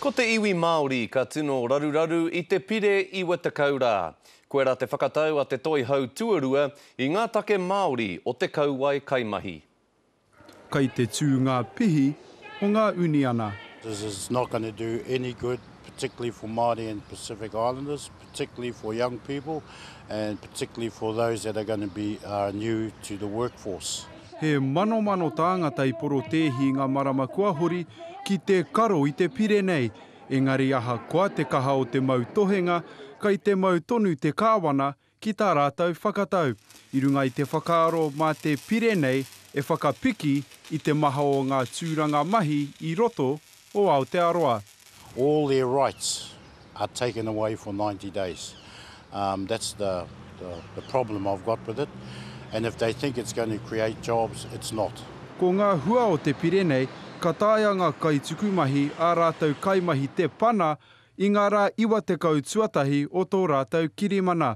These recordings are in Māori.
Ko te iwi Māori ka tino raruraru i te pire i Watekau rā. Koirā te whakatau a Te Toihau Tuarua i ngā take Māori o te kauae kaimahi. Kai te tū ngā pihi o ngā uniana. This is not going to do any good, particularly for Māori and Pacific Islanders. particularly for young people and particularly for those that are going to be uh, new to the workforce. He manomano tāngata i porotēhi i ngā marama kua hori ki te karo i te pire nei, engari ahakoa te kaha o te mau tohenga, kai te mau tonu te kāwana ki tā rātou whakatau, i runga i te whakaaro mā te pire nei e whakapiki i te maha o ngā tūranga mahi i roto o Aotearoa. All their rights are taken away for ninety days. Um, that's the, the, the problem I've got with it. And if they think it's going to create jobs, it's not. Ko ngā hua o te pire nei, ka taea ngā kaitukumahi ā rātou kaimahi te pana i ngā rā 90 tuatahi o tō rātou kirimana.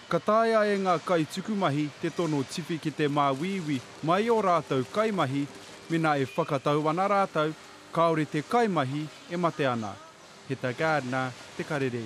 Ka taea e ngā kaitukumahi te tono tiwhikete māuiui mai i ō rātou kaimahi mēnā e whakatau ana rātou kāore te kaimahi e mate ana. Heta Gardner, Te Karere.